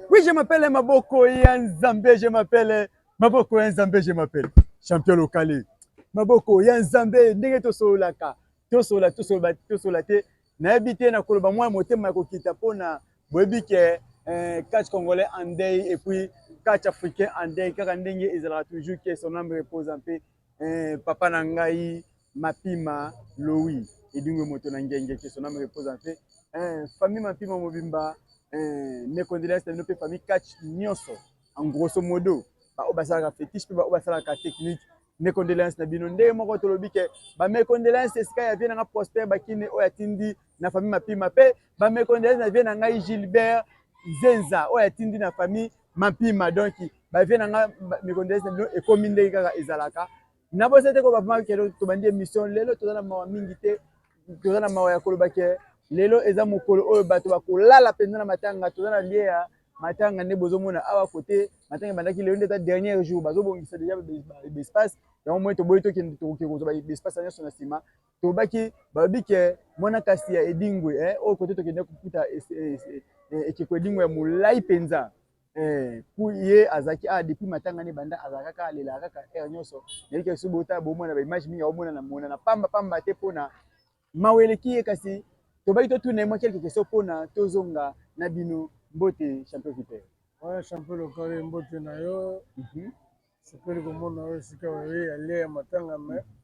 Oui, je m'appelle Maboko ya Nzambe, je m'appelle Maboko ya Nzambe, je m'appelle champion locale. Maboko ya Nzambe ndenge tosololaka, tosola tosola tosola te. Nayebi te nakoloba mwa motema ya kokita mpo na boyebi ke eh, catch congolais en deuil et puis catch africain en deuil kaka ndenge ezalaka toujours que son âme repose en paix. Eh, papa na ngai mapima lowi edingwe moto na ngenge que son âme repose en paix eh, famille mapima mobimba eh, mes condoléances na bino mpe famille catch nyonso en grosso modo baoyo basalaka fétiche mpe baoyo basalaka technique mes condoléances na bino ndenge moko tolobi ke ba mes condoléances esika ya vie na nga Prosper Bakine oyo atindi na famille mapima mpe ba mes condoléances na vie na ngai Gilbert Zenza oyo atindi na famille Mampima donc ba vie na nga mikondese bino ekomi ndenge kaka ezalaka na bosa te ko ba papa kero tobandi émission lelo toza na mawa mingi te toza na mawa ya koloba ke lelo eza mokolo oyo bato bakolala mpenza na matanga toza na lie ya matanga nde bozomona awa kote matanga ebandaki lelo nde eza dernier jour bazobongisa deja espace yango moi toboyi tokende tokoki kozwa espace nyonso na nsima Tobaki balobi ke muana kasi ya Edingwe eh, oyo kote tokende kokuta ekeko Edingwe ya molayi penza eh, mpo ye azalaki awa depuis matanga ne banda azalaka kaka alela kaka heure nyonso nayebi ke soki botala bomona ba image mingi aomonana monana pamba pamba te mpona mawa eleki ye kasi tobaki totuna ye mwa quelque question mpona tozonga na bino mbote champion viper ouais, champion lokale mbote na yo mm -hmm. sepeli komona yo esika oye alia ya matanga mais mm -hmm.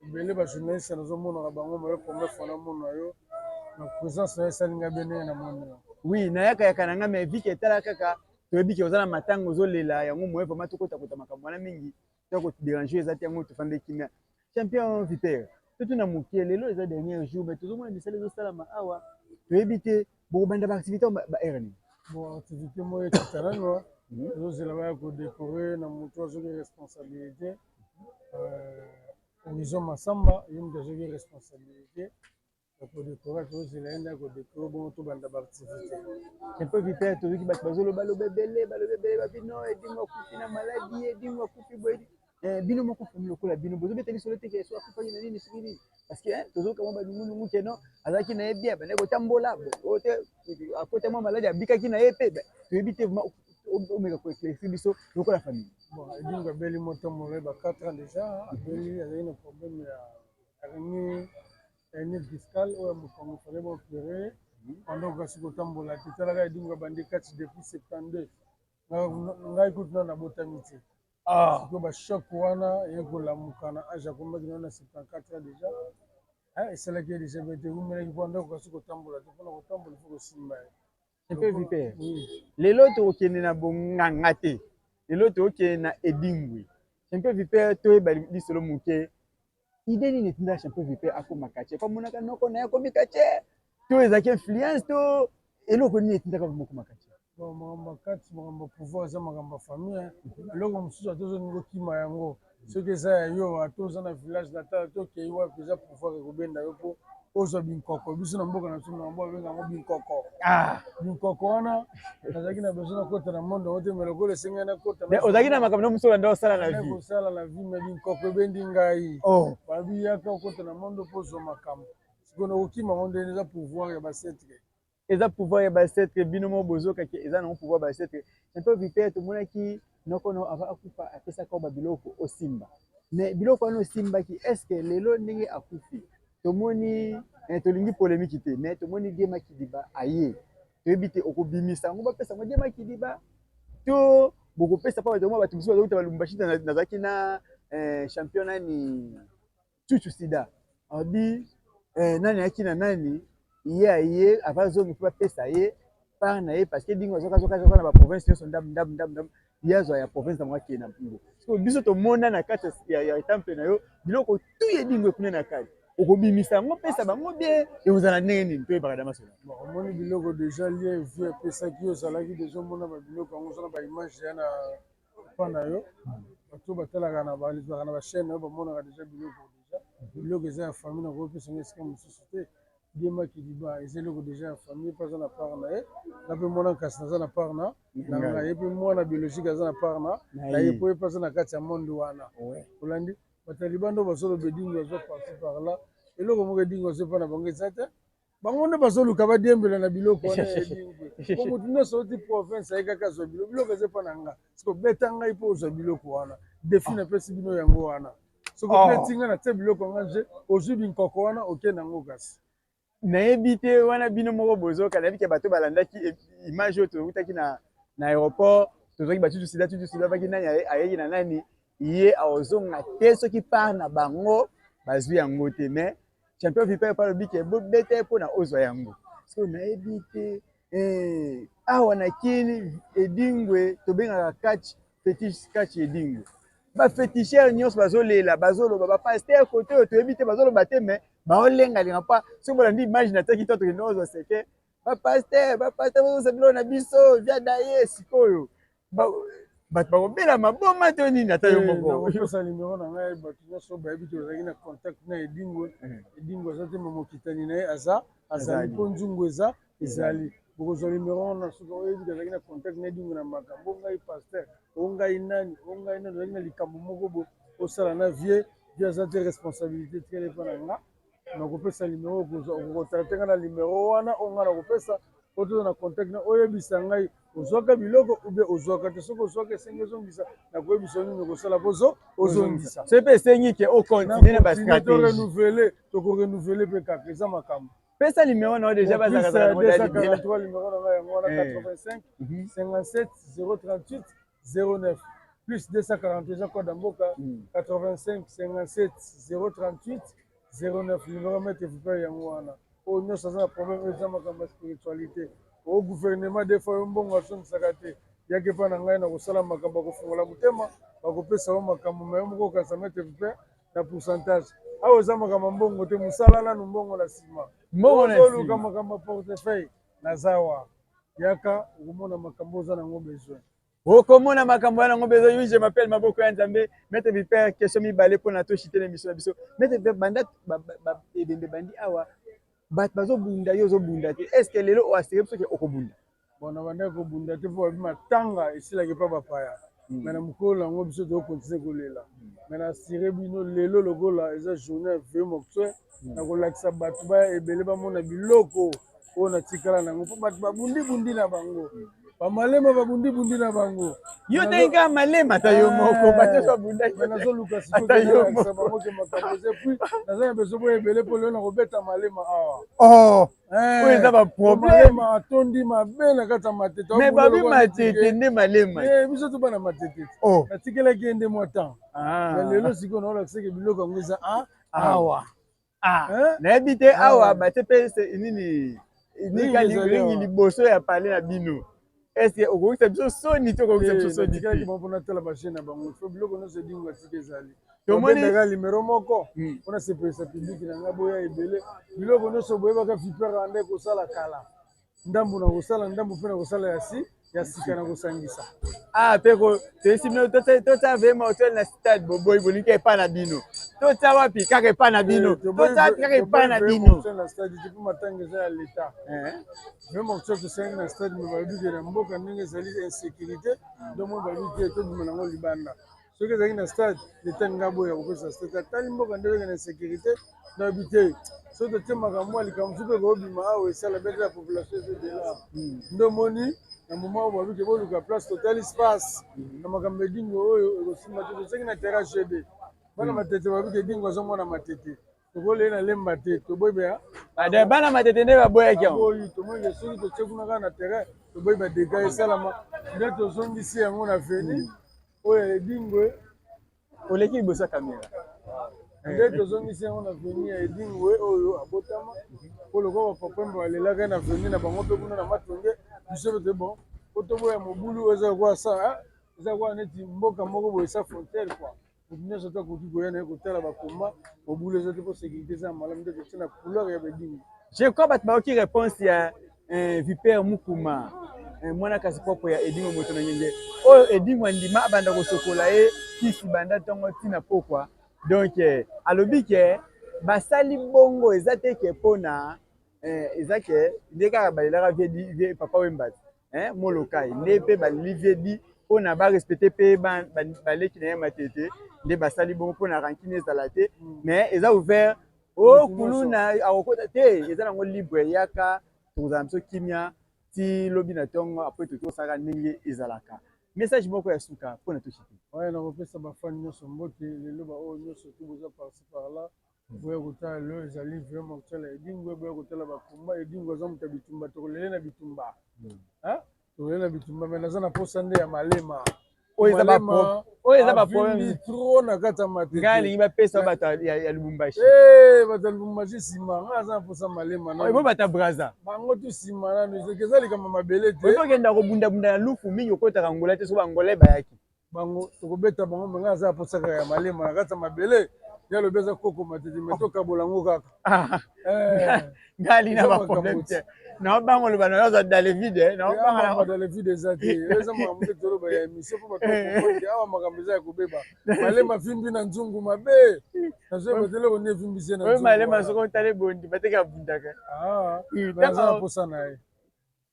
Ebele ba journaliste nazo mona na bango mais première fois na mona yo na presence na esali nga bien na mona. Oui, na yaka yaka na nga mais vie que etala kaka toyebi ke oza na matanga ozolela yango moye vraimen tokotakota makambo wana mingi to koderange eza te yango tofande kimia champion viper totuna moke lelo eza dernier jour mai tozomona misala ezosalama awa toyebi te bokobanda baactivité baheure nini bon activité moyo ekatalanoa tozozela baya kodekore na moto azoki responsabilité mm -hmm. Horizon Massamba ye mutu azwaki responsabilite ya ko decorer tozozela ye nde ako decorer bongo tobanda ba activite un peu vite fait toyoki batu bazoloba loba ebele balobi ebele ba bino Edingwe akufi na maladi Edingwe akufi boye eh, bino moko famille lokola bino bozobeta lisolo te ke so akufaki na nini soki nini parce que tozoyoka mwa banungunungu ke non azalaki na ye bien bande kotambola oyo te akota mwa maladi abikaki na ye mpe toyebi te omeka ko éclaircir biso lokola famille bon edingo abeli moto molo ba 4 ans déjà abeli azali na problème ya hernie hernie discale oyo mokongo fale ba opéré mhm. pendant okasi kotambola te talaka edingo abandi kati depuis 72 ngai kutu nano nabotami te ah. siko bachoc wana ye kolamuka na age akomaki nano na 74 ans déjà esalaki ye déjà bete eumelaki mpo ndako kasi kotambola te mpona kotambola ifo kosimba ye Epe vipere. Lelo tokokende na bonganga te. Lelo tokokende na edingwe. Champion vipere toyeba lisolo moke. Idee nini etinda champion vipere akoma kache? Pamonaka noko na ye akomi kache. To ezalaki influence to eloko nini etindaka bokoma kache? makambo ya kati makambo ya pouvoir eza makambo ya famille eloko mosusu ata ozolingi okima yango soki eza ya yo ata oza na village natal ata okei wapi eza pouvoir ekobenda yo mpo ozwa binkoko biso na mboka na biso na mboka benga yango binkoko ah. binkoko wana nazalaki na besoin nakota na monde yango te me lokola esengeli nakota ozalaki na makambo na mosolo nde osala na vie kosala na vie me binkoko ebendi ngai oh. babiyaka okota na monde mpo ozwa makambo sikoyo nakokima yango ndeni eza pouvoir ya basetre Eza pouvoir ya ba ancêtre bino mo bozo kake eza nango pouvoir ba ancêtre champion vipère tomonaki noko no ava akufa apesaka yo ba biloko osimba mais biloko wana osimbaki est ce que lelo ndenge akufi tomoni eh, tolingi polemiki te mais tomoni die makidiba aye toyebi te okobimisa yango bapesa yango die makidiba to bokopesa mpo bato bato mosusu bazokita balumbashi nazalaki na eh, champion nani chuchu sida alobi eh, nani ayaki na nani ye aye ava zongi mpe bapesa ye part na ye parce que dingo azwakazokazoka na baprovince nyonso ndam ndam ndam ndam ye azwa ya province yango akende na mpungu so biso tomona na kati ya temple na yo biloko tu ye dingo ekuna na kati okobimisa yango pesa bango bie ekozala ndenge nini toyebaka da masolo omoni biloko deja lie vie epesaki yo ozalaki deja omona babiloko yango ozana baimage ya na Papa na yo bato oyo batalaka na bazalaka na ba chaine na yo bamonaka deja biloko deja biloko eza ya famille nakoki opesa nga esika mosusu te die makiliba eza eloko deja ya famille mpe aza na part na ye nga mpe mwana nkasi naza na part na na nga ye mpe mwana biologique aza na part na na ye mpo ye mpe aza na kati ya monde wana olandi bataliba nde bazoloba edingo aza parti par là eloko moko edingo azo epa na bango eza te bango nde bazoluka badiembela na biloko wana ya ebingwi po motu nyonso oti province aye kaka azwa biloko biloko eza epa na nga soki obeta ngai mpo ozwa biloko wana defi ah. napesi bino yango wana soki ah. obeti ngai natie biloko yanga je ozwi binkoko wana oke na yango kasi nayebi te wana bino moko bozoka nayebi ke bato balandaki e, image oyo towutaki na, na aéroport tozwaki batutu sida tutu sida baki nani ayeki na nani ye aozonga te soki part na bango bazwi yango te mais Champion Viper pa lobi ke bo beta ye pona ozwa yango. Siko nayebi te eh, awa na kini edingwe tobengaka catch fetish catch edingwe ba feticheur nyonso bazolela bazoloba ba pasteur kote oyo toyebi te bazoloba te mais baolengalenga mpa soki bolandi image natiaki to tokende ozwa seke ba pasteur ba pasteur bozosa biloko na biso via daye sikoyo bato bakobela maboma to nini ata yo eh, mokoopesa nimero na ngai bato nyonso bayebi te ozalaki na contact na edingo hmm. edingo aza te mamokitani na ye aza azali mpo nzungu eza ezali bokozwa nimero wana soki oyebi azalaki na contact na edingo na makambo o ngai pasteur o ngai nani o ngai nani ozalaki na likambo moko bo osala na vie vie aza te responsabilité tikala epa na nga nakopesa numero okokontacte ngai na numero wana oyo ngai nakopesa po toza na contact na oyebisa ngai ozwaka biloko ube ozwaka te soki ozwaka esengi ozongisa nakoyebisa nini okosala po ozongisa soki mpe esengi ke okontinue na bastrategietorenovele tokorenouvele mpe kaka eza makambo pesa numero na yo deja bazalaka 243 numero na ngai yango wana 85 57 038 09 plus 240 eza code ya mboka 85 57 038 09 numero mete vipere yango wana oyo nyonso aza na problème oyo eza makambo ya spiritualité o gouvernement des fois yo mbongo azongisaka te yaki epai na ngai na kosala makambo ya kofungola motema bakopesa yo makambo ma yo moko okanisa mete vipere na pourcentage awa eza makambo ya mbongo te mosala nanu mbongo na nsima mbongo na nsima oluka makambo ya portefeuille Nazawa. Yaka okomona makambo oza nango besoin. Okomona makambo wana yango besoin. Oui, je m'appelle Maboko ya Nzambe. Maître Viper, question mibale pona to chiter l'émission na biso. Maître Viper, banda ba, ba, ba, ebembe bandi awa bato bazobunda yo ozobunda te est ce que lelo oasire biso ke okobunda bon na bandaki kobunda te mpo babi matanga esilaki mpa bapaya hmm. me na mokolo yango biso tokokontinue kolela me na asire bino lelo lokola eza journée ya vieux moctuel nakolakisa bato baya ebele bamona biloko oyo natikala na yango mpo bato babundibundi na bango bamalema babundibundi na bango yo ndenge kaka malema ata yo moko bato nyonso babundaki me nazoluka sikoyoakisa bango ke makambo eza epuis naza na besoin boyo ebele mpo lelo nakobeta malema awa oh, eh, oyo eza baproblema atondi mabe na kati ya matete me babi matete nde malema eh, biso toba na matete oh. natikelaki ye nde mwa temps ah. lelo sikoyo naolakisaki biloko yango eza a ah, awa ah. eh? nayebi te awa batie mpe nini ringi liboso ya pale na bino eske okokisa biso soni to okokisa biso soni tomonaka limero moko hmm. mpona sepelisa publiki na ngai boya ebele biloko nyonso boyebaka viper rwanda ekosala kala ndambo na kosala ndambo mpe na kosala ya si ya sika na kosangisa ah mpe toyesi bino totya vema hotel na stade boboyi bolingi epai na bino totya wapi kaka epai na bino eh, totya wapi kaka epai na bino na stade te mpo matanga eza ya leta eh. vema hotel tosengi na stade me balobi ke na mboka ndenge ezali insécurité ndomoi balobi te tobima nango libanda soki ezalaki na stade leta alingi aboya kopesa stade atali mboka nde oyeke na insécurité na yebi te soki totie makambo ya likambo mosusu mpe koobima awa esala bete ya population ezodela hmm. nde omoni na moma oyo babi ke boluka place totali space hmm. na makambo ya edingo oyo ekosimba te toseki na terrain gd bana hmm. matete babi ke edingo aza mwana matete tokolei na lemba te toboyi baya ada bana matete nde baboyaki yango oyo tomonike soki totie kuna kaka na terrain toboyi badega esalama nde tozongisi yango na veni hmm. oyo ya edingwe oleki liboso ya kamera nde tozongisi yango na veni ya edingwe oyo abotama mpo lokola bapapembe balelaka na veni na bango mpe kuna na matonge biso mpe toye bon po toboya mobulu oyo eza lokola sa eza lokola neti mboka moko boye sa frontière kua Mutu nionso te akoki koya naye kotala ba combat, mobulu eza te po securite eza ya malamu nde totie na couleur ya bedingu. Je crois batu bayoki reponse ya eh, Vipère Mukuma eh, mwana kasi propre ya Edingo moto na ngenge oyo Edingo andima abanda kosokola ye kisi banda tongo tina pokwa donc eh, alobi ke basali bongo eza te ke pona eh, eza ke nde kaka balelaka vie papa wembati eh, molokai nde mpe balivie di mpo na barespecte mpe baleki na ye matete nde basali bongo mpo na rankine ezala te mm. mais eza ouvert o oh, kuluna akokota te eza nango libre eyaka tokozala biso kimia ti lobi na ntongo apres tokosaka ndenge ezalaka message moko ya suka mpo na toshite oyo nakopesa bafani nyonso mbote lelo baoyo nyonso to boza parci par là Boya kotala lelo ezali vraiment kotala Edingwe, boya kotala ba combat Edingwe aza moto ya bitumba, tokolele na bitumba hmm. hein? tokolele na bitumba mais naza na posa nde ya malema oyo eza ba oyo eza ba problème trop na kati ya matete ngai alingi bapesa bato ya lubumbashi eh, bato ya lubumbashi nsima ngai aza na posa malema nabo bato ya braza bango tu nsima nano eza likambo mabele te okenda kobundabunda na lufu mingi okotaka ngola te soki bangola bayaki bango tokobeta bango me ngai aza ya posa kaka ya malema na kati ya mabele ya lobi aza koko matete me tokabola yango kaka ah. eh. ngali na baproblème te naobanga oloba na yo aza dalevide eh. naobanga dalevide eza te eza makambo nde toloba ya émission mpo bato bakokote awa makambo eza ya kobeba malema fimbi na nzungu mabe nazoyeba te eloko nde efimbisi na malema soko otali bondi bateke abundaka ah, aza na posa na ye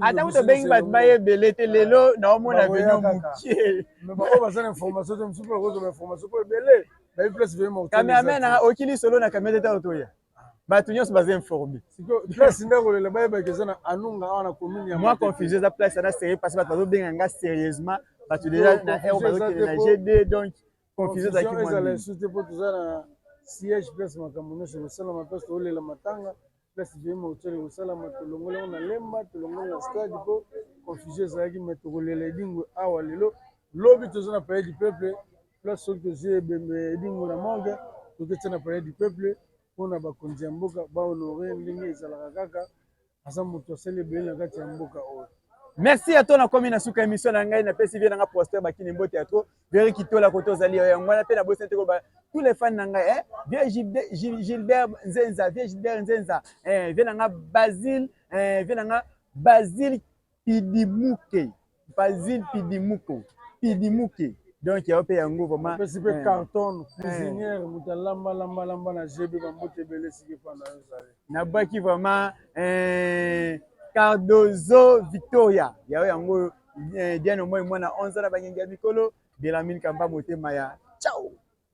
ata kutu obengi bato baye ebele te lelo naomona bino mokiekameramen nanga oki lisolo na kamera teta otoya bato nyonso baza informe mwa confusion eza place ana serie parce bato bazobenga nga sérieusement bato deja na r bazokende na gd donc confusion ezalaki mwa ezala nini esu te mpo toza na siège place makambo nyonso ekosalama place toolela matanga place vie mortuel ekosalama tolongoli yango na lemba tolongoli na stade mpo confusion ezalaki mai tokolela edingwe awa lelo lobi toza na palais du peuple place soki tozwi ebembe ya edingwe na morgue toketya na palais du peuple mpo na bakonzi ya mboka bahonore ndenge ezalaka kaka aza moto asali ebele na kati ya mboka oyo merci ato nakomi na suka émission na ngai napesi vie na ngai prospère bakini mbote ya tro veri kitola kote ozali yo yango wana mpe nabosani te koloba tous les fans na ngai eh? vie gilbert nzenza vie gilbert nzenza eh, vie na ngai basile eh, vie na ngai basile Pidimuke Bazin pidimuko pidimuke donc yo pe yango vraiment opesi pe carton cuisinière mutu alamba lamba lamba na JB ba mbote ebele esika efanda yo ezali na bwaki vraiment eh, Cardozo Victoria yayo yango eh, Diane Omoi mwana 11 na bangengi ya mikolo Belamine Kamba motema ya ciao